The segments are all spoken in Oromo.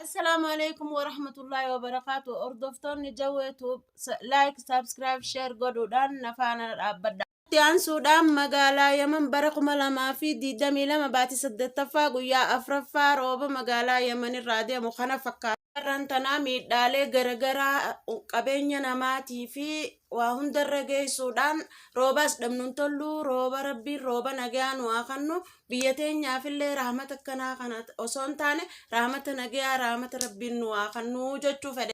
Assalaamu alaikum warahmatullahi wabarakaatu. Hordoftoonni Jawwee Tuub like, subscribe, share godhuudhaan na faana dhaabbadha. Itti aansuudhaan magaalaa Yaman bara 2022 baatii 8ffaa guyyaa 4ffaa rooba magaalaa Yaman irraa deemu kana fakkaata. Irraan tanaa miidhaalee garagaraa qabeenya namaatii fi waa hundarra geessuudhaan roobaas dhabnuun tollu rooba rabbiin rooba nagaa nu haa kannu biyya teenyaafillee rahmata akkanaa kana osoo hin taane rahmata nagaa rahmata rabbiin nu haa kannu jechuu fedhe.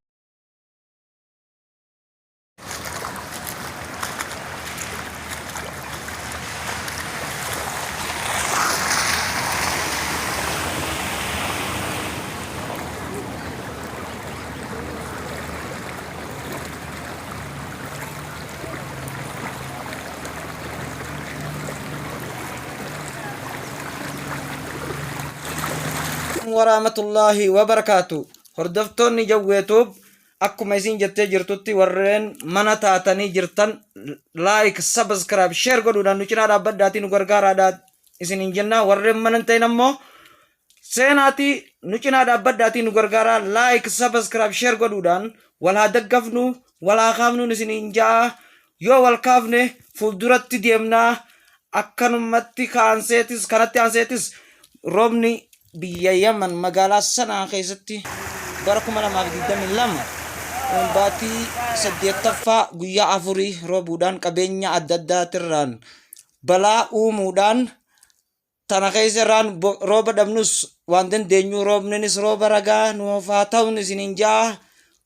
warahmatullahi wabarakaatu hordoftoonni jawweetuub akkuma isin jettee jirtutti warreen mana taatanii jirtan laayik sabiskiraayib sheer godhuudhaan nu cinaa dhaabbadhaatii nu gargaaraadhaa isin hin jennaa warreen mana hin ta'in ammoo Seenaatii nu cinaa dhaabbadhaatii nu gargaaraa like subscribe share godhuudhaan wal haa daggafnu wal haa kaafnuun isiniin ja'a yoo wal kaafne fuulduratti deemnaa akkanumatti kaanseetis kanatti aanseetis roobni biyya yaman magaalaa sanaa keessatti bara 2022 baatii saddeettaffaa guyyaa afurii roobuudhaan qabeenya adda addaatirraan balaa uumuudhaan Tana keessa irraan rooba dhabnus waan dandeenyu roobninis rooba ragaa nuuf haa ta'uun isiniin ja'a.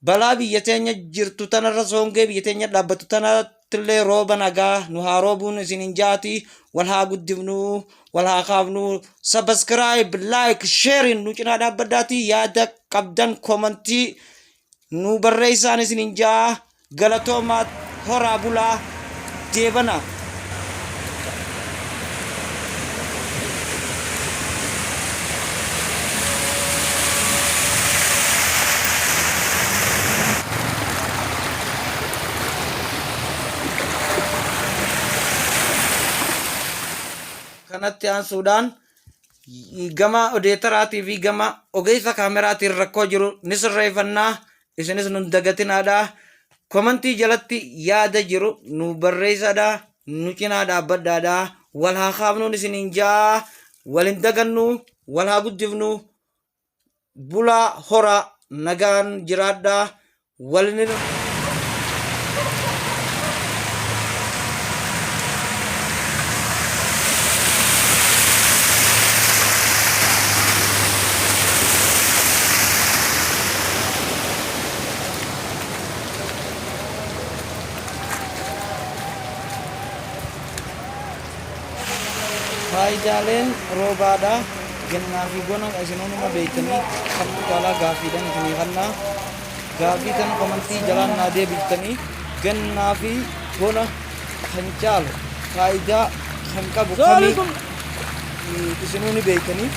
Balaa biyya teenya jirtu tanarra soongee biyya teenya dhaabbattu tanattillee rooba nagaa nu haa roobuun isiniin ja'ati wal haa guddifnu wal haa kaafnu. Subscribe, like, sharing nu cinaa dhaabbadhaati yaada qabdan komantii nuu barreessaan isinin ja'a galatoomaa horaa bulaa deebana. kanatti aansuudhaan gama odeetaraatii fi gama ogeessa kaameraatiin rakkoo jiru ni sirreeffannaa isinis nun dagatinaadha komantii jalatti yaada jiru nu barreessaadha nu cinaa dhaabbadhaadha wal haa kaafnuun isiniin jaa wal hin dagannu wal haa guddifnu bulaa horaa nagaan jiraadhaa walinin Faayidaaleen roobaadha. Gannaa fi bona isinuu numa beektanii kamtu caalaa gaaffiidhan isinii kannaa. Gaaffii tana komantii jalaan naa deebiftanii gannaa fi bona kan caalu faayidaa kan qabu kamii eh, isinuu ni beektanii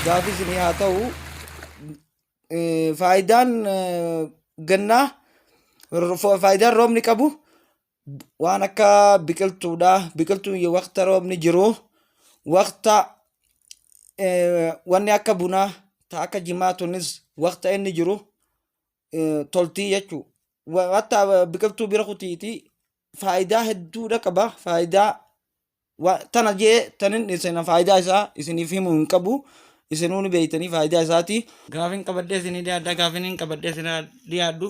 gaaffii isinii haa ta'u. Eh, Faayidaan eh, gannaa ro- faayidaan roobni qabu waan akka biqiltuudha biqiltuun yoo waqta roobni jiru waqta eh, wanni akka bunaa ta akka jimaa tunis waqta inni jiru eh, toltii jechuu Wa- hatta eh, biqiltuu bira kutiiti faayidaa hedduudha qaba faayidaa tana jee tanin isina faayidaa isaa isiniif himu hin qabu isinuu ni beeytanii faayidaa isaati. Gaafin qabadhee isinii dhiyaadha gaafin hin qabadhee isinaa dhiyaadhu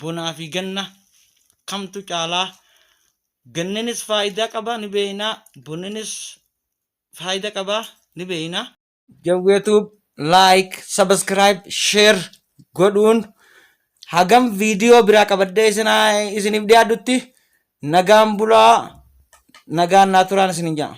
bonaa fi ganna kamtu caalaa ganninis faayidaa qaba ni beeynaa bonninis faayidaa qaba ni beeynaa. Jawwee Tube like, subscribe, share godhuun hagam viidiyoo biraa qabadhee isinaa- isiniif dhiyaadhutti nagaan bulaa nagaan naa turaan isin hin jedha.